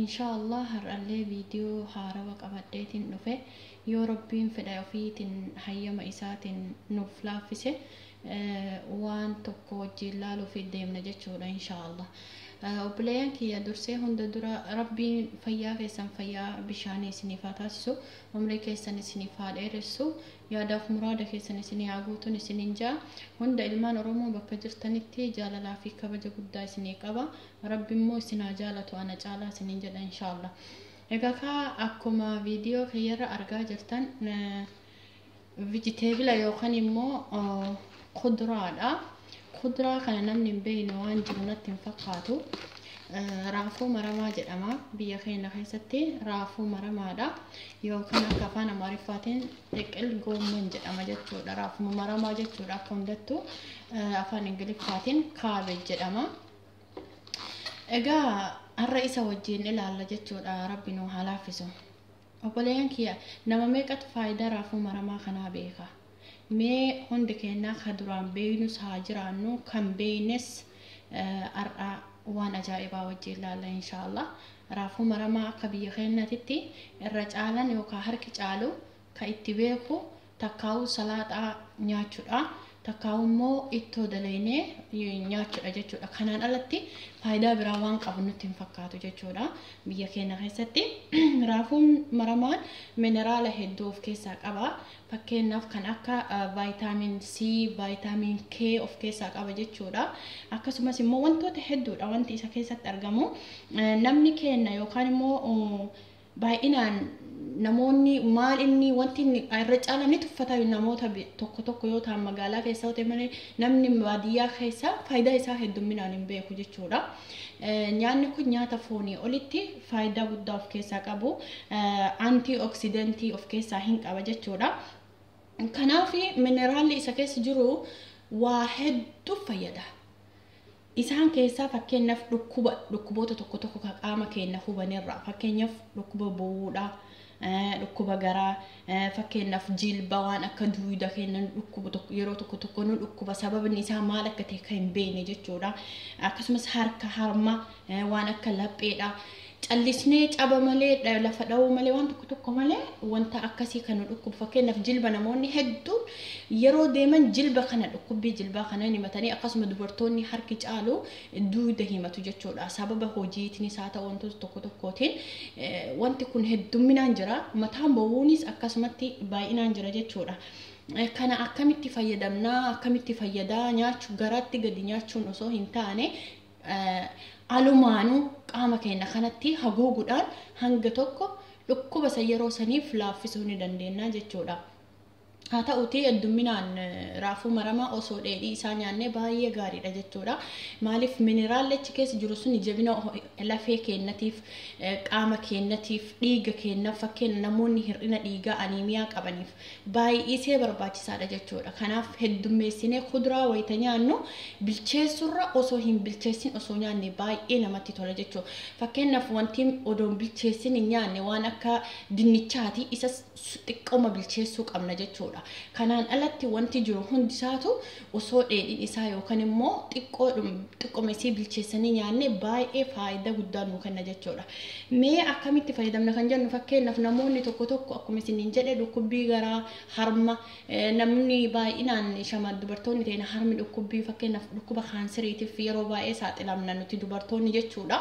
Inshaa Allah har'allee video haarawa qabadheetin dhufe yoo Rabbiin fedha ofiitin hayyama isaatin nuuf laaffise waan tokko wajjiin laaluufi deemna jechuudha inshaa Allah obboleeyyan kiyya dursee hunda dura Rabbiin fayyaa keessan fayyaa bishaanii isiniif haa taasisu umrii keessan isiniif haa dheeressu yaadaaf muraada keessan isinii haa guutun isiniin ja'a hunda ilmaan Oromoo bakka jirtanitti jaalalaa fi kabaja guddaa isinii qaba rabbi immoo isin haa jaalatu ana caalaa isiniin jedha inshaalla egaa kaa akkuma viidiyoo kiyyarra argaa jirtan vijiteebila yookaan immoo kuduraadha kuduraa kana namni hin beekne waan jiru natti hin fakkaatu raafuu maramaa jedhama biyya keenya keessatti raafuu maramaadha yookaan akka afaan amaariffaatiin xiqil goomman jedhama jechuudha raafuu maramaa jechuudha akka hundattuu afaan ingiliffaatiin kaabeej jedhama Egaa har'a isa wajjin ilaalla jechuudha rabbi nu haa laaffisu. Obboleeyyan kiyya nama meeqatu faayidaa raafuu maramaa kanaa beeka. Mee hundi keenyaa ka duraan beeynus haa jiraannu kan beeynes eh, har'a waan ajaa'ibaa wajjin ilaalla inshaallah. Raafuu maramaa akka biyya keenyatitti irra caalan yookaan harki caalu ka itti beeku takkaawuu salaaxaa nyaachudha takkaawuu immoo ittoo dalaynee nyaachudha jechuudha kanaan alatti faayidaa biraa waan qabu nutti hin fakkaatu jechuudha biyya keenya keessatti raafuun maramaan mineraala hedduu of keessaa qaba fakkeenyaaf kan akka vaayitaamiin C vaayitaamiin K of keessaa qaba jechuudha akkasumas immoo wantoota hedduudha wanti isa keessatti argamu namni keenya yookaan immoo Baay'inaan namoonni maal inni wanti inni irra caalaan ni tuffata namoota bi- tokko tokko yoo ta'an magaalaa keessa yoo ta'e malee namni baadiyyaa keessa faayidaa isaa heddumminaan hin beeku jechuudha. Eh, Nyaanni kun nyaata foonii olitti faayidaa guddaa of keessaa qabu antii oksidentii of keessaa hin qaba jechuudha. Kanaaf mineraalli isa keessa jiru waa hedduuf fayyada. Isaan keessaa fakkeenyaf dhukkuba dhukkuboota tokko tokko ka qaama keenna hubanerraa fakkeenyaf dhukkuba bowwuudha, dhukkuba garaa, fakkeenyaf jilba waan akka duuyda keenna nu dhukkubu tokko yeroo tokko tokko nu dhukkuba sababni isaa maal akka ta'e kan hin beekne jechuudha. Akkasumas harka harma waan akka lapheedha. Callisnee caba malee, dha- lafa dha'uu malee, waan tokko tokko malee wanta akkasii kan nu dhukkubu. Fakkeenyaaf jilba namoonni hedduun yeroo deeman jilba kana dhukkubbii jilbaa kana hin himatanii akkasuma dubartoonni harki caalu duuda himatu jechuudha. Sababa hojiitinis haa ta'u wantoota tokko tokkootiin eh, wanti kun heddumminaan jira. Mataan bowwuunis akkasumatti baay'inaan jira jechuudha. Eh, Kana akkamitti fayyadamnaa akkamitti fayyadaa nyaachu garaatti gadi nyaachuun osoo hin taane alumaanuu qaama keenya kanatti haguuguudhaan hanga tokko dhukkuba isa yeroo saniif laaffisuu ni dandeenya jechuudha. Haa ta'uutii heddumminaan raafuu maramaa osoo dheedhii isaa nyaannee baay'ee gaariidha jechuudha. Maaliif mineraalli achi keessa jiru sun jabina lafee keenyatiif, qaama keenyatiif, dhiiga keenyaaf fakkeenya namoonni hir'ina dhiigaa aniimiyaa qabaniif baay'isee barbaachisaadha jechuudha. Kanaaf heddummeessinee kuduraa wayita nyaannu bilcheessurra osoo hin bilcheessin osoo nyaanne baay'ee namatti tola jechuudha. Fakkeenyaaf wanti odoo hin bilcheessin hin nyaanne waan akka dinnichaati isas xiqqooma bilcheessuu qabna jechuudha. Kanaan alatti wanti jiru hundisaatu osoo dheedhiin isaa yookan immoo xiqqooma isii bilcheessanii nyaanne baay'ee faayidaa guddaa nuu kenna jechuudha. Mee akkamitti fayyadamna kan jennu fakkeenyaaf namoonni tokko tokko akkuma isiniin jedhe dhukkubbii garaa harma namni baay'inaan shamaan dubartoonni ta'ina harmi dhukkubbii fakkeenyaaf dhukkuba kaanseriitiif yeroo baay'ee saaxilamna nuti dubartoonni jechuudha.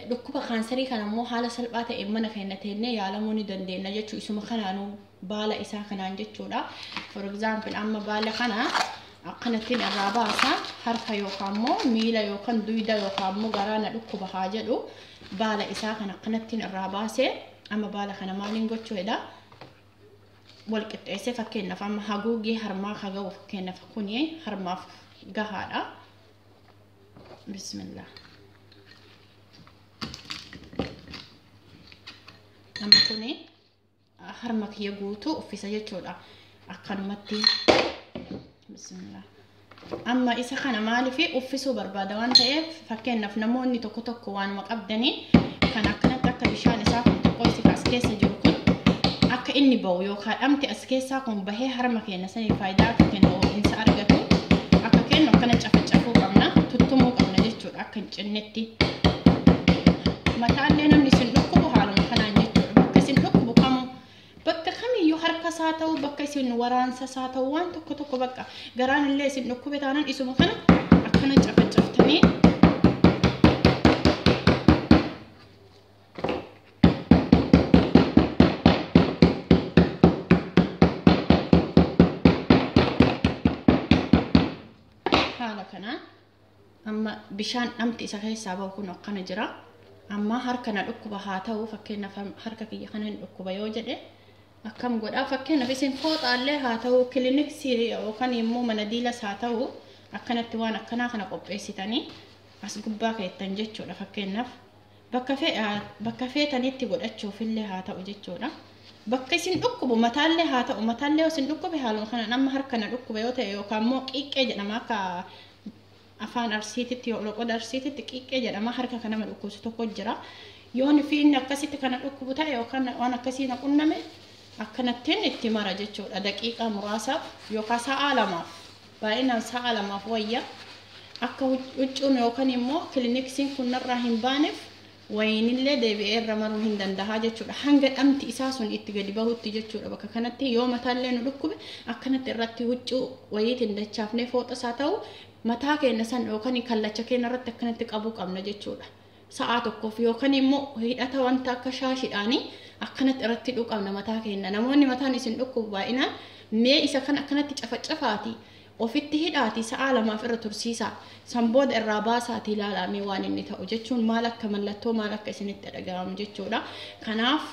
Dhukkuba kaanserii kana immoo haala salphaa ta'een mana keenya teennee yaalamuu ni dandeenya jechuu isuma kanaanuu baala isaa kanaan jechuudha. For example amma baala kana akkanattiin irraa baasa harka yookaan immoo miila yookaan duyda yookaan immoo garaa na dhukkuba haa jedhu baala isaa kan akkanattiin irraa baase amma baala kana maaliin gochuu jedha wal qixxeessee fakkeenyaaf amma haguuggii harmaa haa ga'u fakkeenyaaf kuni harmaaf gahaadha. Bismillah. Amma kuni. harma kiyya guutuu uffisa jechuudha akkanumatti bismillah amma isa kana maaliif uffisuu barbaada waan ta'eef fakkeenyaaf namoonni tokko tokko waanuma qabdanii kan akkanatti akka bishaan isaa kun xiqqoo isa as keessa jiru kun akka inni ba'u yookaan dhamti as keessaa kun bahee harma keenya sanii faayidaa akka kennu ho'iinsa argatu akka kennu akkana cafacafuu qabna tuttumuu qabna jechuudha. akka hin cinnetti mataallee namni isin dhukkubu haaluma kanaan jechuudha bakka isin dhukkubu kamuu bakka kamiyyuu harka isaa ta'u bakka isin waraansa isaa ta'u waan tokko tokko bakka garaan illee isin dhukkube taanaan isuma kana akkana cafacaftanii haala kanaan Amma bishaan dhamti isa keessaa bahu kun akkana jira. Amma harka na dhukkuba haa ta'u fakkeenyaaf harka kiyya kana hin dhukkuba yoo jedhe akkam godhaa fakkeenyaaf isin fooxaallee haa ta'u kiliniksii yookaan immoo mana diilas haa ta'u akkanatti waan akkanaa kana qopheessitanii as gubbaa keettan jechuudha fakkeenyaaf Bakka fe- aa, bakka feetanitti godhachuufillee haa ta'u jechuudha. Bakka isin dhukkubu mataallee haa ta'u mataallee yoo isin dhukkube haaluma kanaan amma harka na dhukkuba yoo ta'e yookaan immoo qiiqqee jedhama akka afaan arsiititti yoo loqoda arsiititti qiiqqee jedhama harka kan nama dhukkubsu tokko jira. Yoon fi inni akkasitti kana dhukkubu ta'e yookaan waan akkasii na qunname akkanattiin itti mara jechuudha daqiiqaa muraasaaf yookaan sa'aa lamaaf Baay'inaan sa'a lamaaf wayya. Akka huccuun yookaan immoo kiliniksiin kun narraa hin baaneef wayiinillee deebi'ee irra maruu hin danda'a jechuudha. Hanga dhamti isaa sun itti gadi bahutti jechuudha. Bakka kanatti yoo mataallee nu dhukkube akkanatti irratti huccuu wayiitiin dachaafnee fooxas haa ta'u mataa keenya san yookaan kallacha keenya irratti akkanatti qabuu qabna jechuudha. sa'aa tokkoof yookaan immoo hidhata wanta akka shaashidhaanii akkanatti irratti dhuqamna mataa keenya namoonni mataan isin dhukkubu baay'inaan mee isa kan akkanatti cafacafaati ofitti hidhaati sa'aa lamaaf irra tursiisa san booda irraa baasaati ilaalaa mee waan inni ta'u jechuun maal akka mallattoo maal akka isinitti dhaga'amu jechuudha kanaaf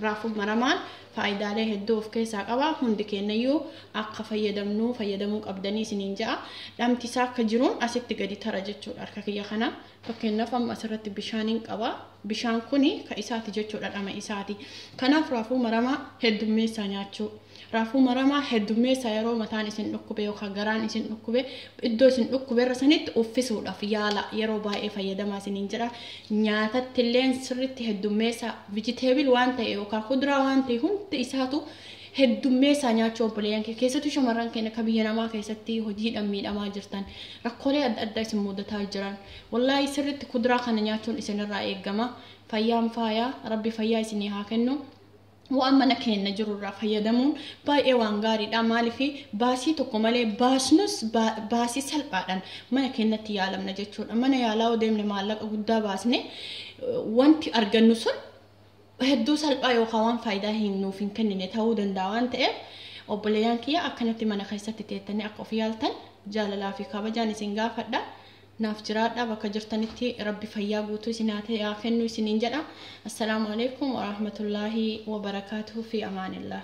raafuu maramaan Faayidaalee hedduu of keessaa qaba. Hundi keennayyuu akka fayyadamnu, fayyadamuu qabdanii isiniin ja'a. Dhamti isaa akka jiruun asitti gadi tara jechuudha harka kiyya kana. Fakkeenyaaf amma asirratti bishaaniin qaba. Bishaan kuni ka isaati jechuudha dhama isaati. Kanaaf raafuu maramaa heddummeessaa nyaachuu. Raafuu maramaa heddummeessaa yeroo mataan isin dhukkube yookaan garaan isin dhukkube iddoo isin dhukkube irra sanitti uffisuudhaaf yaala yeroo baay'ee fayyadamaa isiniin jedha. Nyaatatti illeen sirriitti heddummeessaa. Vegetable waan ta'e yookaan kuduraa waan ta'e hunda isaatu heddummeessaa nyaachuu obboleeyyan kee keessattuu shamarran keenya akka biyya namaa keessatti hojiidhaan miidhamaa jirtan rakkoolee adda addaa isin mudataa jiran wallaahi sirriitti kuduraa kana nyaachuun isinirraa eegama fayyaan faayaa rabbi fayyaa isinii haa kennu. waan mana keenya jiru irraa fayyadamuun baay'ee waan gaariidha. Maaliif baasii tokko malee baasnus baasii salphaadhaan mana keenyatti yaalamna jechuudha. Mana yaalaa yoo deemne maallaqa guddaa baasne wanti argannu sun hedduu salphaa yookaan waan faayidaa hin nuuf hin kennine ta'uu danda'a waan ta'eef obboleeyyan kiyya akkanatti mana keessatti teettanii akka of yaaltan jaalalaa fi kabajaan isin gaafadha. Naaf jiraadhaa bakka jirtanitti rabbi fayyaa guutuu isin haa kennu isiniin jedha. Assalaamu aleykum warahmatullaahi wabarakaatuhu fi amaanillah.